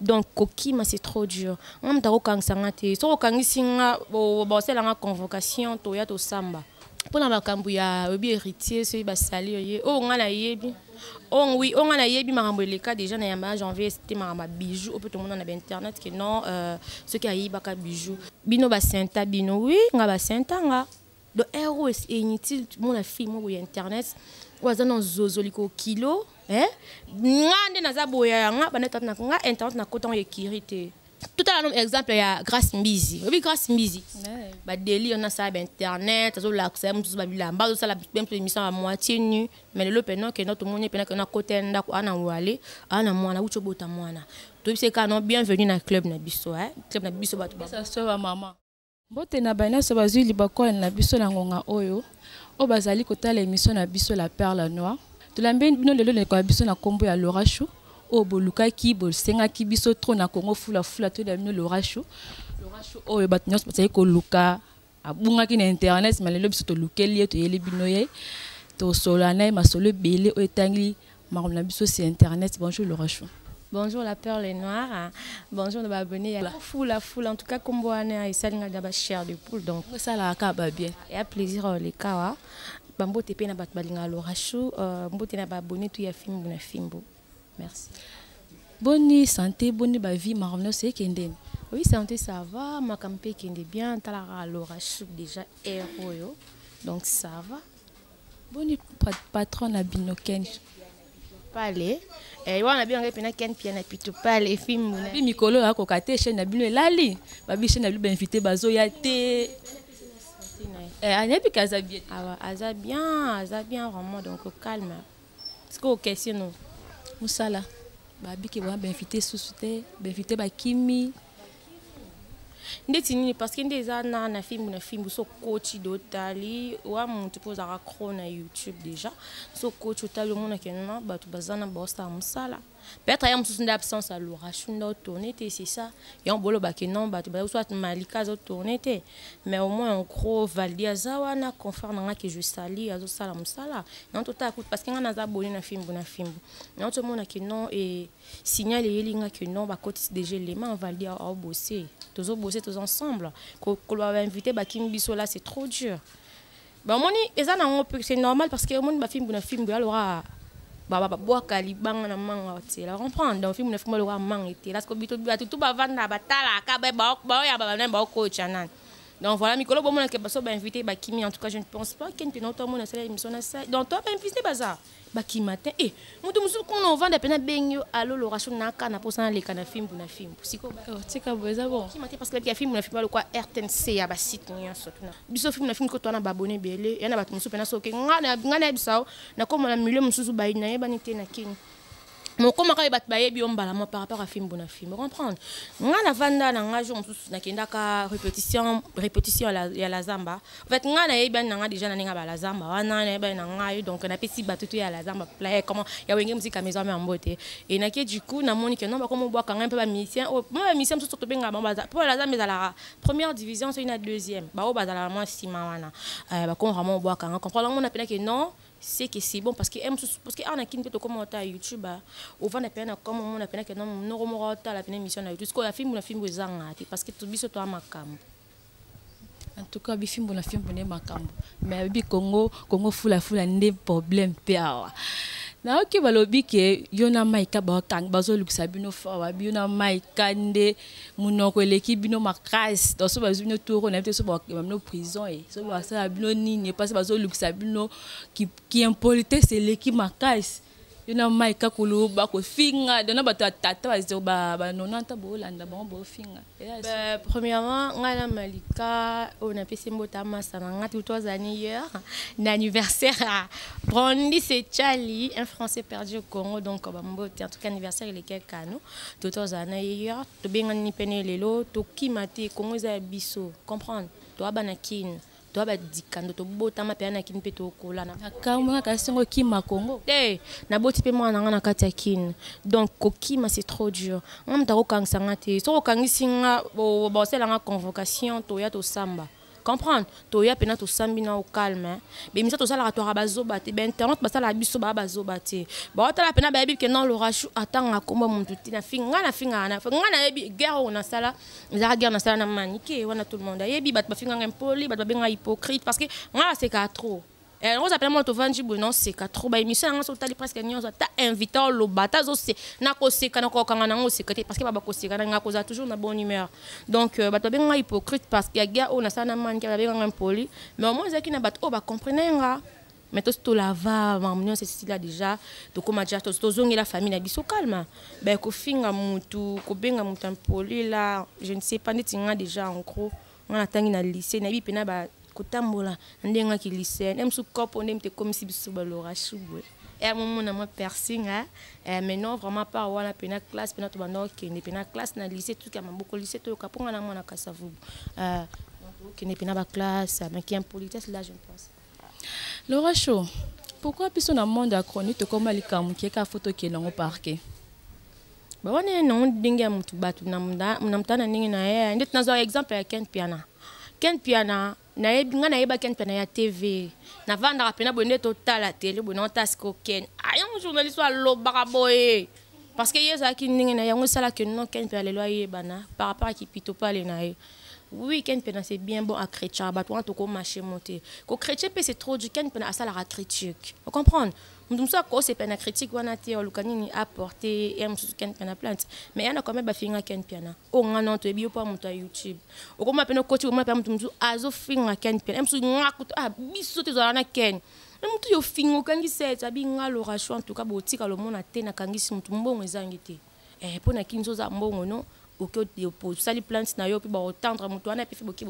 donc kokima c'est trop dur nga moto akokangisa nga te soki okangisi nga bosala nga convocation toya tosamba mpo na makambo ya oyebi héritier soki basali oye oyo nga nayebi oyo oui oyo nga nayebi makambo eleka déjà na yamba ya janvier te makambo ya bijou oyo mpe tomona na bainternet ke non euh, soki ayibaka bijou bino basenta bino oui nga basenta nga donc heure oyo inutile mona fille moko ya internet oyo aza na zozoli ko kilo eh? nga nde naza boya ya nga banda tata na nga internet nakota ngo ekiri te totala no exemple ya grace mbizi oyebi grace mbizi badeli ona asala bainternet azolakisa ye mosusu babilamba azosala mpe mosusu émission ya moitié nu mais lelo mpena okenda tomoni mpena kena kota ya ndako ana wale ana mwana wuti obota mwana toyebisi kaka no bienvenu na club na biso eh? club na biso bato ba... Mbote na baye nyonso bazwi libaku na biso na ngonga oyo oyo bazali kotala emission na biso la perle noire tolambi bino lelo leko na biso na nkombo ya lorashu oyo bolukaki bosengaki biso trop na congo fulafula toyela bino lorashu lorashu oyo bato nyonso bazali koluka abungaki na internet ma lelo biso tolukeli ye toyeli bino ye tosolola na ye masolo ebele oyo etangi makambo na biso si internet bonjour lorachou Bonjour la perle noire. Bonjour nos abonnés. La foule, la foule. En tout cas, comme on a et ça, on a chair de poule. Donc, ça, la caba bien. Il y a plaisir euh, les kawa. Bambo tepe na bat balinga lorachou. Euh, Bambo tepe na bat abonné tout ya fimbo na fimbo. Merci. Bonne santé, bonne ba vie, marvno c'est kenden. Oui, santé ça va. Ma campagne kende bien. Talara lorachou déjà héros. Donc ça va. boni patron na bino ken pale eh, wana biyanga mpena ken pia na pitu pale efimbuna bi mikolo ya koka te chaine na bino elali babi chaine na bino bainvité bazoya te eh, ayebi ke aza bien awa ah, aza bien aza bien vraiment donc calme sikoyo question no mosala babike wana bainvité susu te bainvité bakimi ndeti nini parce que nde eza na na fimbu na fimbu so koti de otali wa motu mpo ozalaka cro na youtube déjà so koti otali omonake na bato baza na baosala mosala peut-être aya mosusu nde absence ya loration nde otourne te c'est ça yango bolobake non bato baza soit malika azotourne te mais au moins en gros valdi aza wana confrère na nga ke je sali azosala mosala yango totala kutu parce que ngai naza boni na fimbu na fimbu yango tomonake non e signal eyeli nga que non bakotisi déjà elema valdi aobose tozo bose toza ensemble koloba bainvité bakimi biso là c'est trop dur bamoni eza nango c'est normal parce que omoni bafimbu na fimbu alora babwaka libanga na manga otela comprendre donc fimbu na fimbu alora manga etela siko bito bato tu bavanda batalaka baoyamba banani baokoca nani donc voilà mikolo bomona ke baso bainvité bakimi en tout cas je ne pense pas kente na oto amona asala émission na sai donc to bainvité baza bakima te e moto mosusu kuna ovanda mpe nabengi yo alo loration naka na mposa naleka na fimbu na fimbu sikotika oh, boye eza bonkima te parce que ya fimbu na fimbu alokwa rtnc ya basite nyonso tuna biso fimbu na fimbu kotoa na babone ebele ya na bato mosusu mpe nasoki ngai na yebisa yo nakomona milio mosusu bayi nayebani te na kini mokomaka ye bato bayebi yo mbala mwa par rapport à fimbu na fimbu comprendre nga navanda na nga jour mosusu nakendaka répétition répétition ya la zamba en fait nga nayebani na nga déjà na ndenge ya balazamba wana nayebani na ngai donc napesi bato to ya lazamba playe comment ya wenge mosika maison ame yango te e nake du coup namoni ke non bakomobwaka ngai mpe bamisien oyo mpe bamisien mosusu tobengaka bango baza mpo lazamba ezalaka première division soki na deuxième baoyo bazalaka mwa nsima wana euh, bakomaka mwa obwaka nga comprendre yango napelaki non c'est que c'est bon parce que m parce que awa na kini mpe tokoma ata youtube ovanda mpena na koma omona mpena ke noko moko otala mpena émission na youtube sikoyo ya fimbu na fimbu ezanga te parce que biso toya makambo en tout cas bifimbu na fimbu nde makambo mais ayebi congo congo fulafula nde problème mpe awa nayoki balobi ke yo na maika bazolukisa bino fawa yo na maika nde munoko eleki bino makasi donc so bazwi bino toro na bino so bakema bino prison e so basala bino nini epasi bazolukisa bino kiimpolitesse eleki makasi yo na mai kakulu bakofinga dona bato ya tata bazero banonanta boolanda bango bofinga premièrement ngai na malika oyo napesi mbota masa na ngai tuto aza niyeur na anniversaire ya brandi secali un français perdu au congo donc bambote en tout cas anniversaire elekekano Toto azala na ye ya tobengani mpe ne lelo tokima te kongo eza ya biso comprendre toaba na kin toa badikando tobotama mpe na kini mpe tokolana akamona kasi ngo kima kongo te naboti mpe mwana na ngai na kati ya kini donc kokima c'est trop dur nga moto akokangisa nga te soki okangisi nga bosala nga convocation toya tosamba comprendre toya pena tosambi na calme hein. bemisa tosalaka twaka bazoba te bainternet basalaka biso baa bazoba te baotala pena bayebi ke non lorachou atangaka kombo muntu te nafinga nafingaka na nga nayebi guerre oyo nasala ezalaka guerre nasala na manike wana tout le monde ayebi bato bafinganga impoli bato babengaka hypocrite parce que nga nasekaka trop Eh, oza pena mwana tovandi boye naoseka trop baémission yanga soki otali presque nyonso ata invité oloba ata azose nakoseka nakokanga nango oseka te parce que babakoseka na ngai akozala toujours na bonne humeur donc euh, bato babenga ngai hypocrite parce que ya guerre oyo nasala na manke babenga ngai impoli mais au moins ezalaki na bato oyo bacomprene nga mais tosi tolava makambo nyonso esila déjà tokóma déjà tozongela famille na biso calme ben kofinga motu kobenga motu impoli la je ne sais pas ndeti nga déjà en gros nga natangi na lycée nayebi mpena ba kotambola na ndenge ngaki lycée na mosusu kopo nde moto ekomisi biso balora shubwe ya momona mwa piercing eh, eh, mais non vraiment par wana mpena classe mpena tobanda okende mpena classe na lycée tuki ya maboko lycée toyoka mpo nga na mwana kasavubu eh, okende mpena baclasse maki impolitesse là je ne pense Laura Show, pourquoi biso na monde ya chronique tokoma likambo moke kaka fo tokende yango parke bawana ye nango ndenge ya motu bato na motala na ndenge na ye ndeti nazwa exemple ya ken piana ken piana nayebi ngai nayeba ken piana ya tv navandaka mpena boye nde totala tele boye nango tasiko ken ayango ah, journaliste alobaka boye parce que ye ezalaki ndenge na yango esalaki no ken piana lelo ayebana par rapport ya kipito pale na ye Oui, Ken Pena, c'est bien bon à chrétien. Bah, toi, tu marché monté. Quand chrétien, c'est trop du Ken Pena, ça la critique. Vous comprenez? Nous sommes quoi, c'est Pena critique, on a été, on a apporté, et on Ken Pena plainte. Mais il y en a quand même, bah, finga Ken Pena. Oh, on a non, tu es bio pour monter YouTube. Au comment, Pena, côté, au moins, Pena, tu me dis, azo finga Ken Pena. Même si on a coûté, ah, bisous, tu as un Ken. na motu yo finga okangisi ete abi nga loration en tout cas botika lomona te nakangisi motu mbongo ezangi te eh pona kinzo za mbongo no osali plante na yo mpe baotendre moto wana epefi boki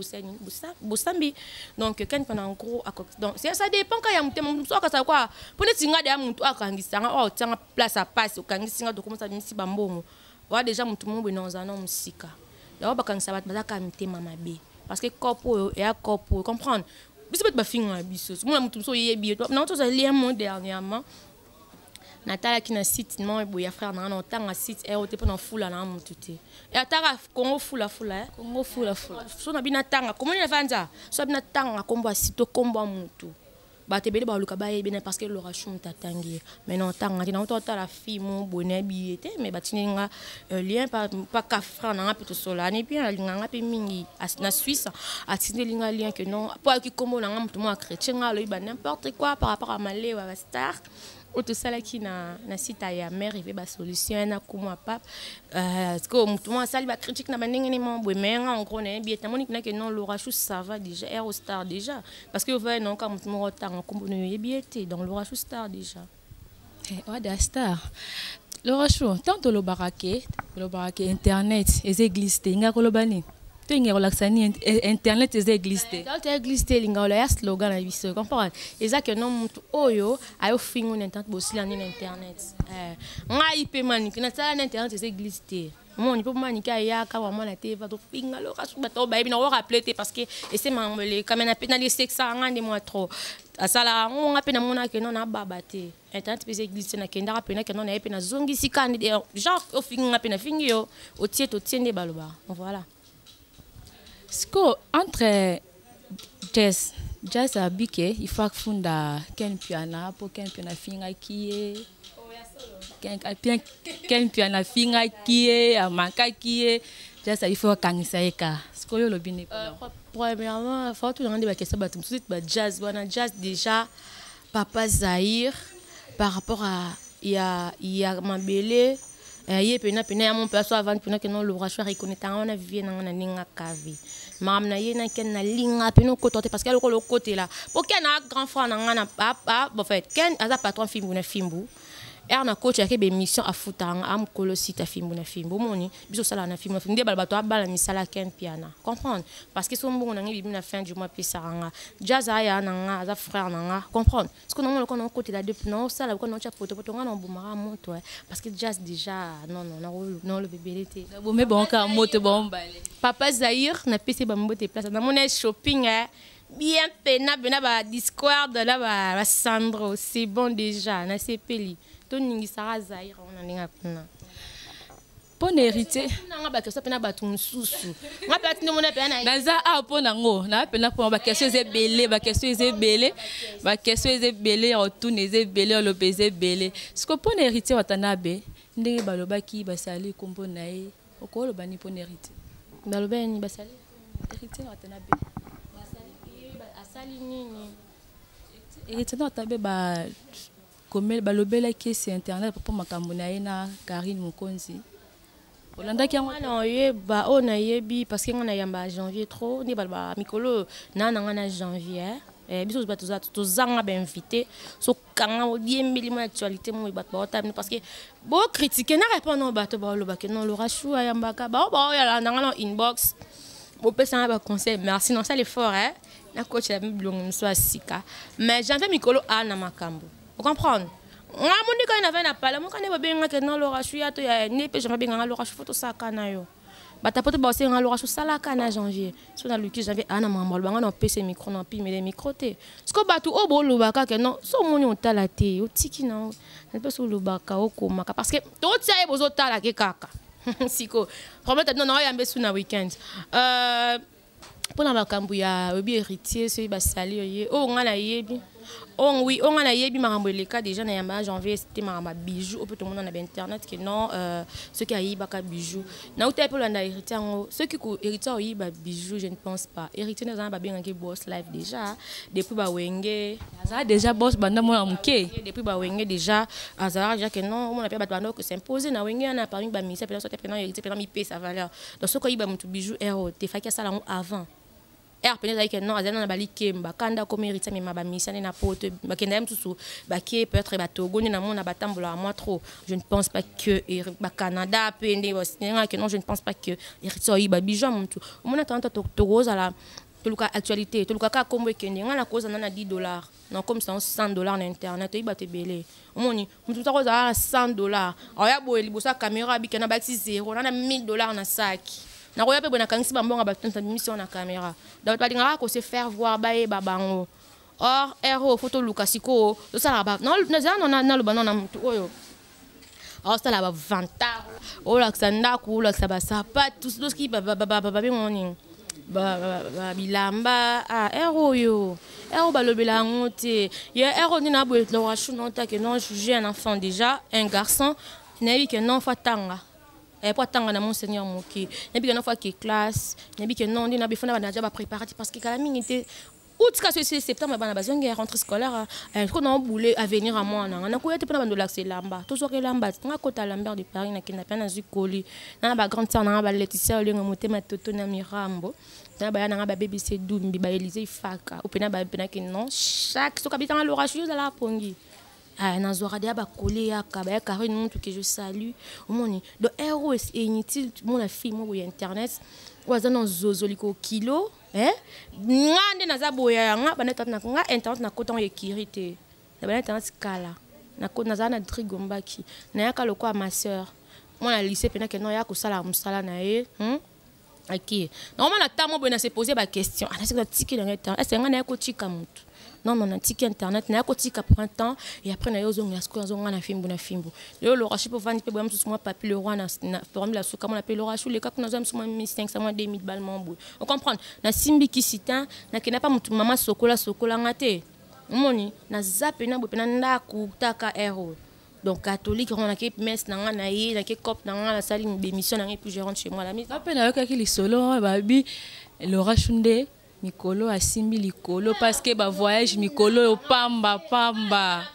bosambi donc kani mpona en gros donc ça dépend ka ya motema moto mosusu akasala kwa mpo neti nga deya moto akangisa nga oyo otianga place apasi okangisi nga tokomisa abimisi bambongo oya deja moto moko boye na ozala na mosika yango bakangisa bato bazaka mitema mabe parce que cope oyo eya cope oyo comprendre biso bato bafingaka biso mona moto mosusu oyebi ye nango tozali ye mo dernièrement natalaki na site moko boye ya frère na nga na otanga site ero te mpo na fula na motu te e ataka congo fulafula eh? congo fulafula so na bino atanga komoni na vanza so na bino atanga nkombo ya site to nkombo ya motu bato ebele baluka bayebi bene parce que lorachu moto atangi ye mai na otanga te nauta otala fimo boye nayebi ye te mai batindi nga euh, lien pa cafran na nga mpe tosolani mpe alinga nga mpe mingi na suisse atindeli nga lien que non mpo ayoki nkombo na nga moto moko akretien nga alobi ba n'importe quoi par rapport ya malewa star oyo tosalaki na, na sita ya mare eve basolution ya nakumu ya pape euh, sikoyo motu moko asali bacritique na bandenge ne moko boye mai nga engros na yebi ete amoni kinake non lorachou sava déjà ero star déjà parce que ovaya nayoka motu moko otanga nkombo na yo oyebi ye te donc lorachou star déjà eh, oada star lorachou ntango tolobaka ke tolobaka ke internet eza eglise te nga koloba nini to elinga kolakisa nini eh, internet eza eglise te internet eza eglise te elinga oloya slogan na biso comprendre eza ke no motu oyo ayofingo na internet bosila nini na internet eh, ngai mpe manike nasala na internet eza eglise te omoni mpo manike ayaka bamwana te batofinga loka soki bato bayebi nango rappele te parce que ese makambo elekame na mpe naliesekisaka ngai nde mwa trop asalaka yango ngai mpe namonaka no nababa te internet mpe eglise nakendaka mpe nakenda na ye mpe nazongisi kandi genre ofingi nga mpe nafingi yo otie totie nde baloba voilà siko entre jes jes abike ifo afunda ken mpiana mpo ken mpiana afingaki ye ken mpiana afingaki ye amakaki ye jes ifo akangisa ye ka sikoyo olobi nini euh, premièrement faut tunanga nde bakesa bato mosusu ete bajazz wana jazz déjà Papa Zahir, par rapport à ya, ya mabele, euh, ye pena pena ya mon père soit avant pena que non le rachoir il connaît tant on a vie na na ninga kavi maam na ye na ken na linga pena ko tote parce que le ko le côté là pour ken a grand frère na ngana papa bon fait ken aza patron fimbu na fimbu ere na coach yake baémission afutaka nga amokolo sita fimbu na fimbu omoni biso osalaka na fimbu na fimbu nde bala bato abala misala ken mpiana comprendre parce que so mbongo na ngai bibi na fin du mois apesaka nga jazz aya na nga aza frère na nga comprendre siko nango lokola naokotela depuis naosala lokola naotya potopoto nga naobomaka moto eh. parce que jazz déjà nono naoloba ebele te bomi bonka moto bombale papa zaire napesi bambote place namona shopping eh. bien pena pena ba discord na ba, ba sandro c'est bon déjà nasepeli toningisaka zaire wana ndenge akuna mpo na héritier nanga bakestion mpe na bato mosusu nga mpe atindi mona mpe naza awa mpo nango naa mpe napona bakestion eza ebele bakestion eza ebele bakestion eza ebele ya otuna eza ebele oloba eza ebele siko mpo na héritier watanabe ndenge balobaki basali nkombo na ye okoloba ni pona héritier baloba ya nini basali héritier na watana be asali nini héritier na watana be ba komel balobelaki esi internet mpo makambo na ye na karine mokonzi olandaki yango wana oyeba oyo nayebi parce que ngai nayamba janvier trop nde baloba mikolo oyo naa na ngai na janvier eh, biso bato tozanga bainvité so kanga oyembeli mwa actualité moye bato baotala bino parce que bokritike na répondre oyo bato baolobake non lora chou ayambaka bao baoyala nanga na inbox bopesanga baconseil merci non sala effort eh? nakotela mi bilongo mosusu ya sika mais janvier mikolo aa na makambo ocomprendre nga mondika ye navai na pala moka nde babengaka non lora chou ya to ya ne mpe janvier abenganga lora chou fo tosaka na yo batapote baosenga loka sosalaka na janvier so naluki janvier aa na makambo aloba ngai na opesa micro na opimele micro te siko bato oyo boloba kaka no so omoni otala te otiki na nalipesa olobaka okomaka parce que totia ye bozotalake kaka siko problème tabi nono oyambe su na weekend euh, mpo na makambo ya oyebi héritier soki basali oye oyo ngai nayebi oyo oui oyo ngai nayebi makambo eleka déjà na yamba ya janvier esite makambo ya bijou oyo mpe tomona na bainternet ke non euh, soki ayibaka bijou nauta ye mpe olanda héritier yango soki héritier oyiba bijou je ne pense pas héritier nde aza na babengaki boss life déjà depuis bawenge azala déjà boss banda mwana moke depuis bawenge déjà azalaka déjà ke non omona mpe bato banda ko s'imposer na wenge yana parmi bamisa mpe nasote mpe na héritier mpe na mipesa valeur donc soki oyiba motu bijou heure oyo te faki asala yango avant heure mpenza ezalaki non azali na balikemba kanda akomi héritier amema bamisia nde na poto bakenda ye mosusu bake peut-être batogo nde namona batambolaka mwa trop je ne pense pas que bacanada mpe nde basengaki non je ne pense pas que héritier oyiba bijou ya motu omonaka nto tokozala toluka actualité toluka kaka nkombo ekende ngai nakozala na 10 dollars nakomisa yango 100 dollar na internet oyi bato ebele omoni moto moto akozala na 100 dollar aoya boye liboso ya camera abika na bakisi zero na na 1000 dollar na saki nakoya mpe boye nakangisi bambonga bato nta bimisi yango na camera donc balingaka kose faire voir bayeba bango or ero fo toluka sikoyo tosalaka nazala naloba nao na motu oyo aosala bavantard olakisa ndako olakisa basapatu soki babengo nini bilamba ah, ere oyo ere oyo balobela yango te ye ere oyo nde na boye lorachu notake non juge un enfant déjà un garçon nayebi ke non fa tanga mpo eh, atanga na monseigneur moke nayebi ke non fa ke classe nayebi ke non nde na befona banaja bapréparatif parce que kala mingi te août kasi esili septembre bana bazongi ya rentre scolaire ko na boule avenir ya mwana nga nakoya te mpo na bando lakisa elamba tozwaka elamba nga kota lambert de paris nakenda mpe nazwi koli na ba grande sœur nanga baleticia olenga motema toto na mirambo na baya nanga babebisi edumbi baelise ifaka opena bapenaki non chaque soki abitanga lorashi ozalaka pongi aya nazwaka deya bakole yaka baya carine mutu ke je salue omoni donc ero inutile mona fille moko ya internet oyo aza na zozoli kokilo eh nga nde naza boya ya nga bana internet na nga internet na kota ya kiri te na bana internet kala na ko naza na drigo mbaki na yaka lokola ma sœur mwana lycée pena ke no ya kosala musala na ye hmm? ok normalement na temps moko boye na se poser ba question ana ah, se kotika na ngai temps est ce que ngai na ye kotika motu non non natiki internet naya kotika prend temps et après naye ozongela sikoyo azonga na fimbu na fimbu lelo lorashi mpe ovandi mpe boya mosusu mwa papi le roi na permi la suka mona mpe lorashi oleka kuna azwa mosusu mwa 1500 mwa 2000 bale mwa boye ocomprendre nasimbi kisi te nakenda mpa motu mama sokola sokola nga te omoni naza mpena boye mpena ndako taka aire oyo donc catholique yango nake messe na ngai na ye nake cope na ngai nasali bémission na ngai puis je rentre chez moi la mise ape nayokaki lisolo babi lorashi nde mikolo asimbi likolo parceke bavoyage mikolo oyo pamba pamba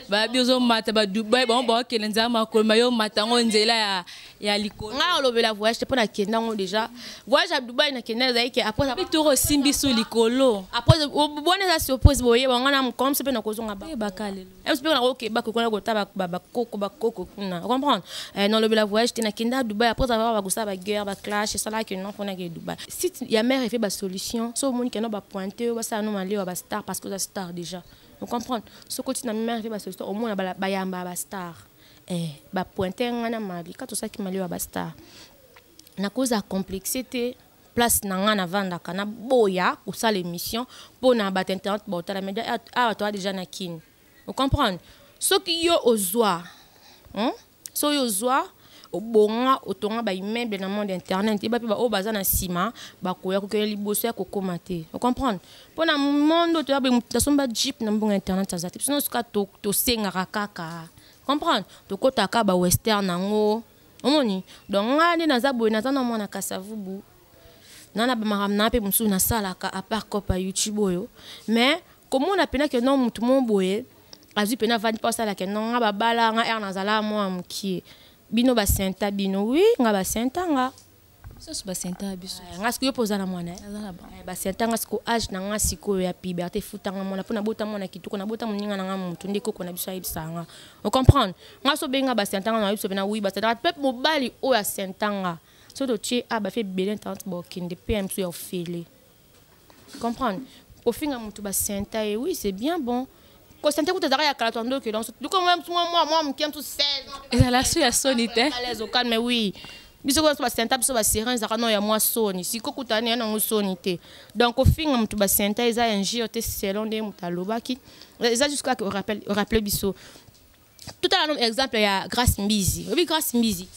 babi ozomata badubai bango baokende nzela makolo maye omata yango nzela ya ya likolo ngai olobela voyage te mpo nakenda yango déjà voyage ya dubai nakenda ezali ke apretoro osimbi su likolo apres obona eza surprise boyeba ngai na mokomsi mpe nakozonga bayebaka lelo Est-ce que au Québec, on a gota ba coco ba coco kuna. Vous comprenez euh, Non, le la voyage t'es na kenda Dubaï après avoir ba gosa ba guerre, ba clash, ça là que non qu'on a que Dubaï. Si ya mère fait ba solution, so monde qui n'a pas pointé, ba ça non aller ba star parce que la star déjà. Vous comprenez Ce côté na mère fait ba solution, au moins ba ba yamba ba star. Eh, ba pointé ngana mabi, quand tout ça qui m'a ba star. Na cause à complexité. place na ngai navandaka naboya kosala émission mpo na bato internet baotala media awa ah, ah, toa déjà na kini ocomprendre soki yo ozwa hmm? so yo ozwa obonga otonga baimmeuble na monde internet yeba mpe baoyo baza na nsima bakoya kokende liboso ya kokóma te ocomprendre mpo na monde oyo toya boye moto asomba jeep na mbongo ya internet aza te biso nyonso kaka tosengaka kaka comprendre tokotaka bawestern yango to omoni donc ngai nde naza boye naza na mwana kasavubu na na bamakambo na mpe mosusu nasalaka apart copa youtube oyo mais komona mpena ke no motu mo boye azwi mpena avandi mpo asala ke no nga babala nga ere nazala mwa mokie bino basenta bino wi nga basenta nga Sos ba senta ya biso. Eh, nga sikoyo mpo oza na mwana eh? aza na bango eh, basenta nga siko age na nga sikoyo ya piberte efutanga mwana mpo nabota mwana kitoko nabota moninga na nga motu nde koko na biso ayebisa nga ocomprendre nga so obengi nga basenta nga nayebisa mpe na wi basenta mpe mobali oyo asenta nga so totie a bafe ebele ntante bokende mpe ya mosusu ya ofele comprendre kofinga motu basenta ye oui c'est bien bon kosenta kuta ezalaka ya kala to ndoki donc loko mwa mwa mwa moke mosusu 16 ezala so ya soni te mais oui biso biso basenta biso baseren ezalaka no ya mwa soni siko kuta ne ya nango soni te donc kofinga motu basenta eza injure te selon nde motu alobaki eza jusqu'à rappele biso totala no exemple ya grace mbizi oyebi grace mbizi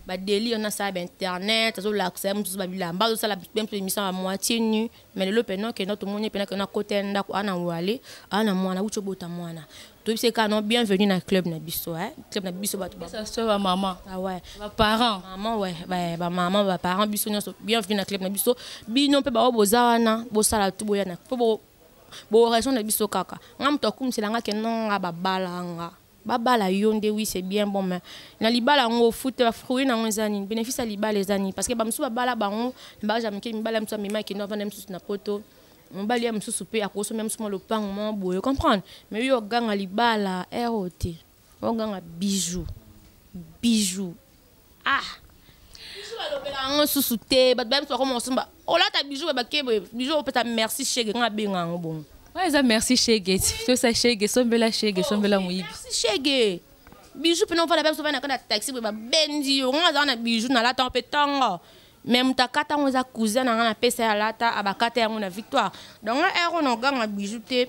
badeli wana asala bainternet azolakisa ye mosusu babilamba azosala mpe mpe émission ya moitié nu mais lelo mpena okenda tomoni mpena kena kota ya ndako ana wale ana mwana wuti obota mwana toyebisi kaka no bienvenue na club na biso eh? club na biso bato bamama ah ouais. baparent mama ouais. bamama baparent biso nyonso bienvenue na club na biso bino mpe baoyo boza wana bosala tu boya na mpo Bo raison na biso kaka. Nga moto akumisela nga ke non nga babala nga. Babala yo nde oui c'est bien bon mais na libala yango ofute ba fruits na yango eza nini? Bénéfice ya libala eza nini? Parce que ba mosusu babala bango na bagage ya mike mibala mosusu amema ekende avanda mosusu na poto. Mobali ya mosusu pe akosomba mosusu mwa lopango mwa boye comprendre mais yo oganga libala ero te. oganga bijou bijou ah balobela yango susu te bato bayebi bakoma kosomba olata bijou ya bake boye bijou opesa merci shege nga abenga yango bongo oyo eza merci shege tosa shege sombela shege sombela moyibi shege bijou mpena ofanda mpe soba na kati ya taxi boye babendi yo nga azala na bijou nalata yango mpe ntongo me moto akata yango eza cousin na nga napesa ye alata abakata yango na victoire donc nga ero na oganga bijou te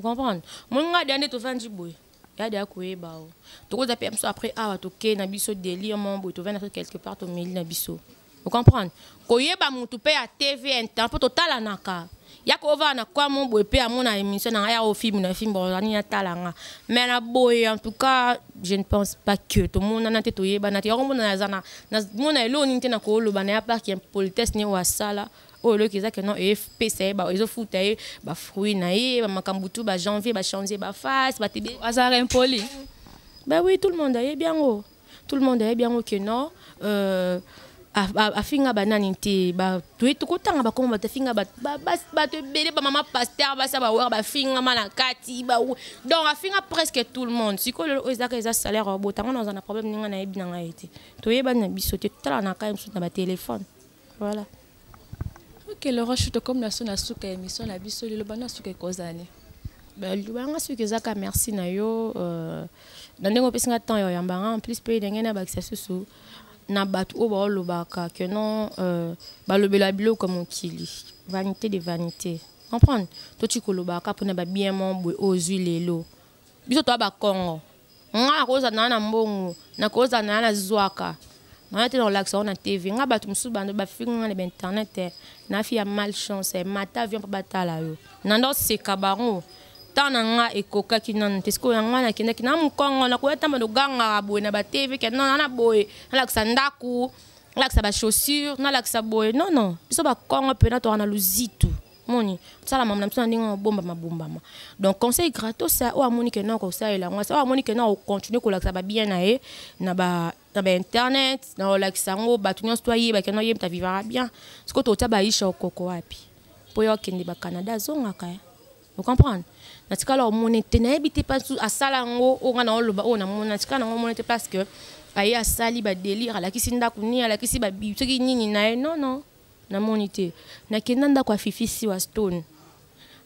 comprendre moi nga dia nde tovandi boye ya dia koyeba o tokoza mpe biso après awa tokei na biso delire mo boye tovandi na quelque part tomeli na biso ocomprendre koyeba motu mpe ya tv intan mpo totalanaka yaka ovaa na kwa mo boye mpe amona émission na ngai yaka ofilme na filme ozani atala nga mais na boye en tout cas je ne pense pas que tomonana te toyebana te yakomona naza na mona eloko nini te na kooloba na ya parc impolitesse ne oyo asala oyo eloko eza ke non epesa ye ezofuta ye bafruit na ye bamakambo tu bajanvier bachange baface batebe azalaka impoli ba oui tout le monde ayebi yango tout le monde ayebi yango ke non euh, afinga banani te tokotanga bakoma bato afinga bato ebele bamama paster basi ya bawere bafingama na kati donc afinga presque tout le monde sikoyo lelo oyo ezaka eza salaire ya botango na oza na problème ndenge nayebi na ngai te toyebani na biso te totala na kai mosusu na batelefone Voilà. Ok, le roche to comme na sona suka émission na biso lelo bana suka ekozani. Bah, libanga soki ezaka merci na yo euh, na ndenge opesi nga temps ya oyambanga en plus mpe ndenge nabakisa susu na bato oyo baolobaka que non euh, balobela biloko ya mokili vanité de vanité comprendre toti kolobaka mpona babien mo boye oyo ozwi lelo biso toa bakongo nga nakozala na na mbongo nakozala na na zwaka naya te na kolakisa yango na tv nga bato mosusu bando bafingi nga na bainternet te nafi ya mal chance eh, mata avion mpo batala yo nando seka bango temps na nga ekokaki nanu te sikoyo yango wana akendaki na mokongo nakoya ntamba nogangaka boye na batv ke nana na boye nalakisa ndako nalakisa bachaussure nalakisa boye nono biso bakongo mpena toka na luzitu moni tosalama na biso na ndenge mabombama bombama donc conseil gratos oyo amoni ke nao kosalela yango oyo amoni ke nao continue kolakisa babien na ye na ba na bainternet na olakisa yango bato nyonso to ayebaki na oyebita vivaka bien sikoyo totya baisha okoko wapi mpo ye okende bacanada azongaka ye ocomprendre natikala omone te nayebi te mpa asala yango oyo ngai naoloba oyo namona natikala nango omone te parce que aye asali badelire alakisi ndako nini alakisi babi soki nini na ye non non namoni te nakenda ndako ya fifi siwa stone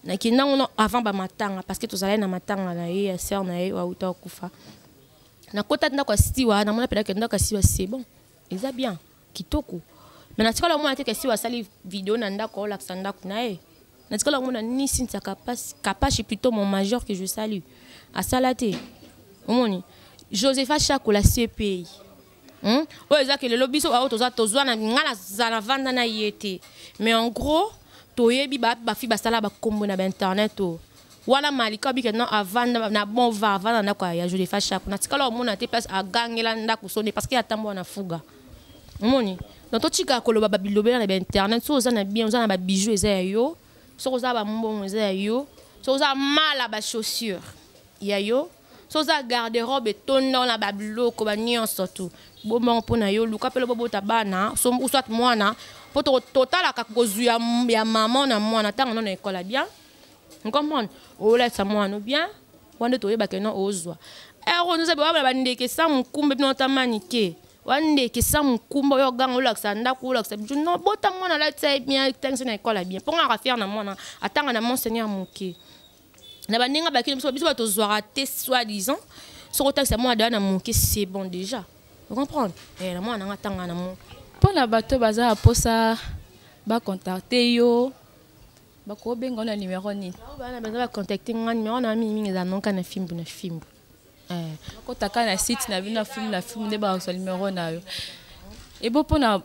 nakenda yango avant bamatanga parce que tozalaki na matanga na ye ya sere na ye wauta akufa nakotaki ndako ya siwa namona mpenaki ndako ya siwa c'est bon eza bien kitoko me natikala omona te ke siwa asali video na ndako olakisa ndako na ye natikala omona ni sintia kapashi plutôt mon majeur que je salue asala te omoni josepha chakola cpi hmm? oyo eza ke lelo biso baoyo toza tozwa na ngai naza na vanda na ye te mais en gros toyebi bafi basala bakombo na bainternet oyo wana malika obike non avanda na bon va avanda ndako ya jodefa shako natikala omona te place agangela ndako sonde parce que atambola na fuga omoni donc totika koloba babilobela na bainternet soki oza na bien oza na babijou eza ya yo soki oza bambongo eza ya yo soki oza mala bachaussure ya yo so oza garde robe etonda wana babiloko banyonso tu bombango mpo na yo luka mpelo bobota bana soit mwana mpo totalaka kozwi ya mama na mwana ntango no na ekola bien comprendre olatisa mwana bien wana nde toyebaka no ozwa ero noza bewabala bandeke sa mokumba bino otamanike wandeke sa mokumba oyo oganga olakisa ndako olakisa bijo no bota mwana alatisa ye bien tangisa na ekola bien mpo ngaka fiere na mwana atanga na monseigneur moke na baninga bakini biso biso bato tozwaka te soit disant soki otakisa mwana daya na moke c'est bon déjà ocomprendre eh, na mwana nanga tanga na moke mpo na bato baza na mposa bacontacte yo bakobenga yo na numero nini bana baza bacontacte nga numero na mingi mingi eza nonka na fimbu na fimbu eh. bakotaka na site na bino na fimbu na fimbu nde bakozwa numero na yo ebo mpo na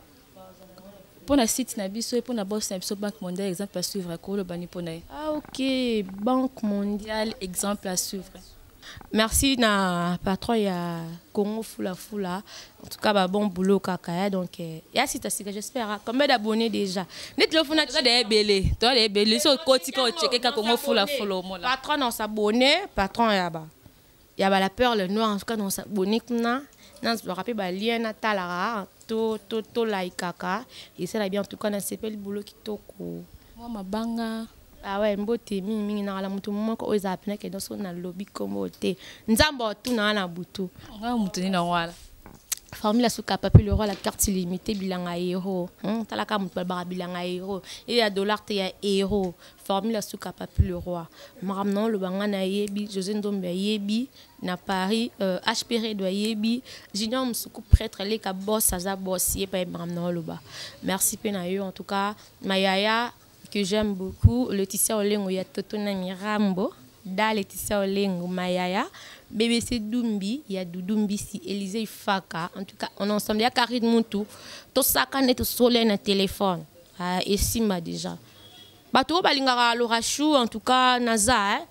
mpo na site na biso mpo na bourse na biso banque mondiale exemple à suivre akoloba ni mpo na ye ah ok banque mondiale exemple à suivre merci na patron ya congo fulafula en tout cas ba bon boulot kaka ya donc eh, ya sita sika j'espère hein. combien d'abonnés déjà neti lofuna toza da ebele toza da ebele so okotika ocekeka congo fulafula omona patron na osabonne patron ya ba ya bala perle noire en tout cas na osabone kuna nazwaka mpe balien natalaka to, to, to laikaka esala bien en tout cas nasepeli bolo kitoko mwa mabanga awa ah mbote mingimingi nakala motu moko oyo ezala mpena kenda so nalobi nkombo te nzambe otuna wana na butu nga motu nini yango wana formule ya suka papi le roi la carte illimité bilanga hero hmm, talaka motu balobaka bilanga hero eye ya dollar te ya hero formule ya suka papi le roi makambo na oloba ngai nayebi josé ndombe ayebi na paris euh, hp redo ayebi junior mosuku prêtre aleka bos aza bos ye paye makambo na oloba merci mpe na yo en tout cas mayaya que j'aime beaucoup leticia olengo ya toto na mirambo da leticia olengo mayaya bbc dumbi ya dudu mbisi élise ifaka en tout cas on ensemble ya carine mutu tosakane tosole na téléphone ah, esimba déjà bato oyo balingaka lorachou en tout cas naza eh?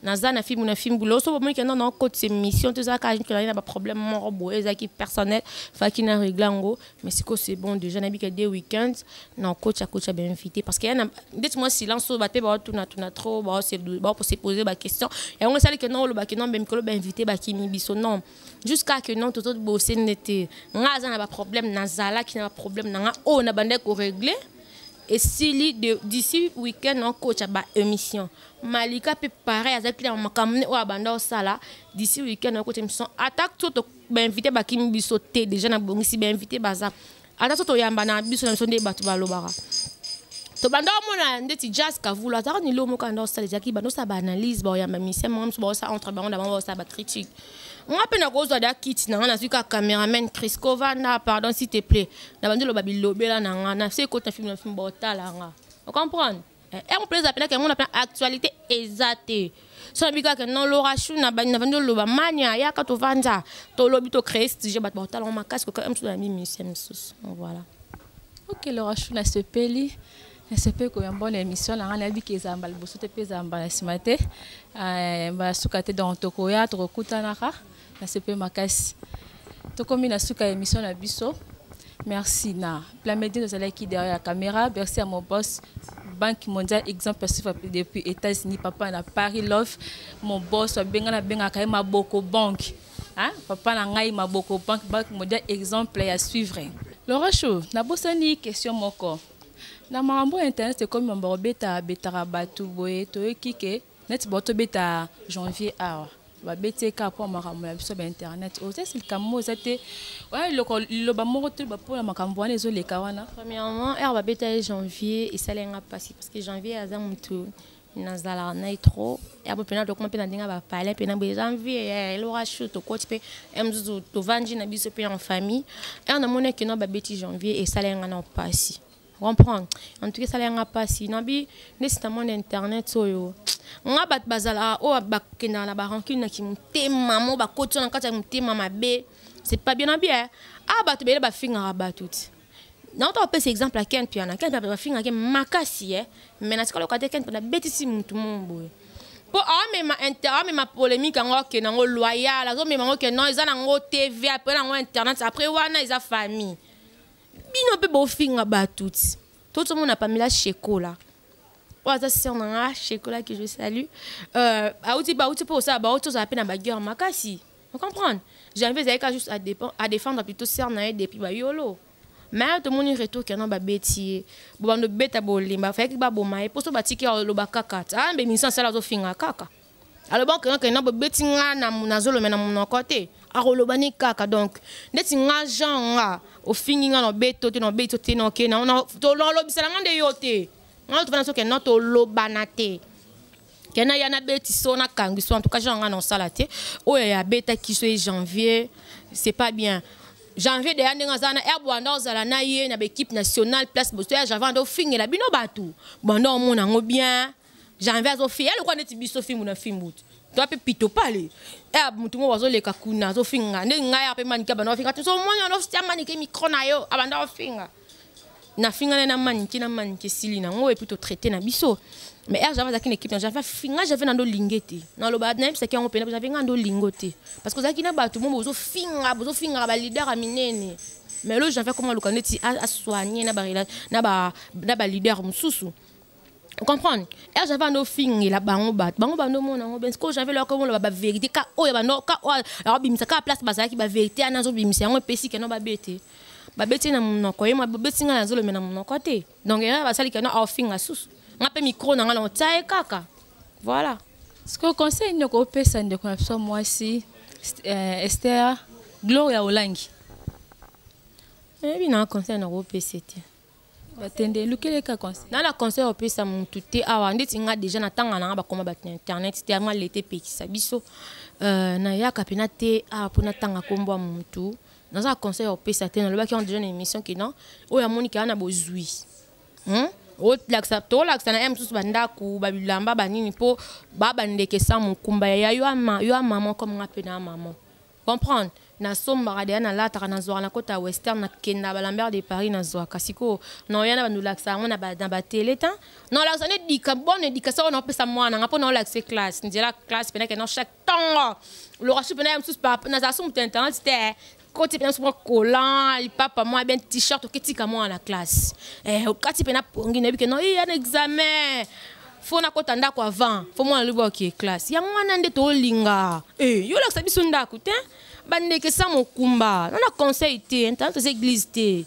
naza na fimbu na fimbu loso bomoni kenda na okotisa émission tozalaka azali na baproblème moko boye ezalaki personnel faki na régle yango mais sikoyo c'est bon déjà nayebika de week-end na okotya kotya bainvité parce que yana ndeti mwa silence oyo bape baotunatuna trop baopose pose baquestion yango esali kenda oloba kenda mbe mikolo bainvité bakimi biso non jusqu'à que non tozobose nde te nga aza na baproblème nazalaki na baproblème na nga oyo nabandaki koregle esili d'ici weekend nakotya ba émission malika mpe pareil azalaki na makambo ne oyo abanda osala d'ici weekend nakotya émission ata so bainvité bakimi biso te déjà nabongisi bainvité baza ata so toyamba na biso na biso nde bato balobaka tobanda omona ndeti jazz kavula azalaka nilo moko anda osala ezalaki banda osala baanalyse baoyamba misien moko mosusu baosala entre bango na bango baosala bacritique nga mpe nakozwa da kiti na nga nazwi kaka cameraman crisco vanda pardon s'il te plaît na bandi loba bilobela na nga na se ekoti na filme na filme baotala nga ocomprendre eh, yango mpe eza mpenaka yango na mpe actualité eza te so nabi kaka non lora chou na bandi oloba mania yaka tovanda tolobi tocree stige bato baotala ngo makasi kokaa mosusu na bimisia mosusu voilà ok lora chou nasepeli nasepe koya mbona émission na ngai nayebi ke ezala mbala liboso te mpe ezala mbala nsima te eh, mbala suka te donc tokoya tokokutanaka nasepe makasi tokomi na suka ya émission na biso merci na plamedie tozalaki derrière la caméra merci à mon boss banque mondiale exemple suiva depuis états-unis papa na paris love mon boss abenga nabengaka ye maboko banque hein? papa na ngai maboko banque banque mondiale exemple ya suivre laura cho nabosani question moko na makambo ya internet ekomi mambo kobeta betaka bato boye toyoki ke neti bao tobeta janvier awa babeti eka mpo makambo ya biso bainternet oyo sasi likambo moko eza te wana eloko liloba moko toyeba mpo na makambo wana ezoleka wana premièrement heure babeta ye janvier esali yanga mpasi parce que janvier aza motu nazalaka na ye trop yabo mpe natokoma mpe na ndenge ya bapale mpe na boye eza envie ya elora chou tokoti mpe ya mosusu tovandi na biso mpe en famille ere namoni ake na babeti janvier esala yanga na mpasi comprendre en tout cas esala yanga mpasi nabi nde sita monde internet oyo nga bato bazalaka oyo bakendaka na barancune na kimotema mo bakoti na kati ya motema mabe c'est pas bien na bien ah bato bele bafingaka bato ti nauta kopesa exemple ya ken piana ken piana bafingaki makasi ye eh. mai natika loka te ken piana abetisi motu mo boye mpo aomema aomema polémique yango ake nango loyal azomema yango ke non eza nango tv apre nango internet apres wana eza famille bino mpe bofinga bato ti to tomona pamela shekola oyo aza sœur na nga shekola que je salue euh, auti bauti mpo kosala bauti ozala mpe na baguerre makasi Vous comprenez Janvier Zaïka juste à, défendre, à défendre plutôt sœur Naï depuis Bayolo. Mais tout le monde retour qu'il y a ba bêtier. Bon bande bêta bolimba, fait que ba bomaye pour so batiki lo ba kaka. Ah mais minsan sala zo finga kaka. Alors bon quand on a bêti nga na na zolo mais na mon côté. akoloba ni kaka donc ndeti nga jean nga ofingi nga na beto te na beto te na oke na tolobisela nga nde yo te nga tofana soki no tolobana te kena ya nabeti so nakangi so en tout cas genre nga na osala te oyo ya beta kiso e janvier c'est pas bien janvier deya ndenge aza na air bwanda ozala na ye na baequipe nationale place boso ya janvier anda ofingela bino bato bwanda omona yango bien janvier azofinga ya lokola neti biso fimbu na fimbu te toi mpe pito pale eh, motu moko azoleka kuna azofinga nde ngai ape manike abanda ofinga tozomona nofia manike mikro na yo abanda ofinga nafingana na manike na manike esili nango epuis totraite na biso mais r java azalaki na équipe na java finga jave na ndo linge te naloba nayebisaki yango mpena jave nga ndo lingo te parce que ozalaki na bato mo bozofinga bozofingaka balider ya minene mais lo jave akoma aluka ndeti asoigne na balider mosusu comprendre ere javi ando ofingela bango bato bango bando omona yango bensko javi eloko omoloba baverité ka oyo bando ka oyo akobimisa kaka place bazalaki baverité ana azobimisa yango epesi keno babete babeti na monoko ye babeti ngai nazolobe na monoko te donc ere basali keno aofinga susu nga mpe mikro na ngai naotya ye kaka voilà sikoyo conseil nini okopesa ndeko na biso mwasi eh, ester gloria olangi oyebi na conseil nakopesa te batende elukeli eka conseil na na conseil opesa mutu te awa ndeti nga deja na tanga nanga bakoma bato na internet te yango alete epekisa biso euh, nayaka mpena te awa mpo natanga nkombo ya mutu naza conseil opesa te nalobaki yango deja na émission ke non oyo amoni kaka na bozwi hmm? olakisa tolakisa na ye mosusu bandako babilamba banini mpo baba ndeke sa mokumba ya yo ya mama comme nga mpe na ya mama comprendre nasombaka deya nalataka nazwaka na kota western nakenda balambert de paris nazwaka sikoyo naoya na bandolakisa yango na batele ta naolakisa nde dika bone dikasa oyo naopesa mwana nga mpo naolakisa classe nzela classe mpena kena chaque ntongo loka su mpena ya mosusu nazala su moto ya internet te koti mpena mosusu mwa collant lipapa mwa bien t-shirt oketika mwana na classe eh, okati mpena pongi nayebi ke no iya na examen fo nakota ndako avant fo mwana lobi oke classe yango wana nde tolinga eh, yo olakisa biso ndako te bandeke sa mokumba nana conseil te ntana toza église te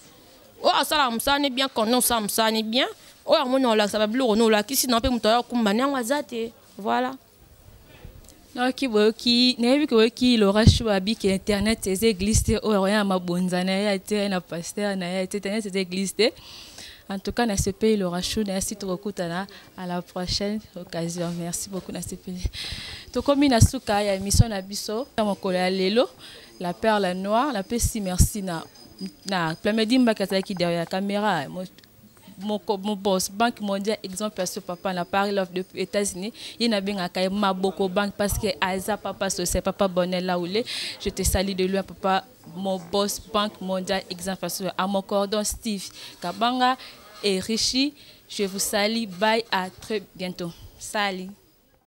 oyo asalaka mosala ne bien content osala mosala ne bien oyo amoni olakisa babiloko no olakisi na mpe moto ayokumba nde yango aza te voilà nayoki boyoki nayebi ke boyoki lora shu abi ke internet eza eglise te oyo akoya na mabonza na ye te na pasteur na ye te internet eza eglise te en tout cas nasepeli lora shu nayasi tokokutana à la prochaine occasion merci beaucoup nasepeli tokomi na suka ya émission na biso na mokolo ya lelo la perle noire napesi merci na na plamedi mbaki azalaki derrière la caméra moko mobos banque mondiale exemple ya so papa na paris love de états-unis ye nabengaka ye maboko banque parce que aza papa social papa bonel laule je te salie de loin papa mon boss banque mondiale exemple ya so à mon cordon steve kabanga et richi je vous salie bye à très bientôt salie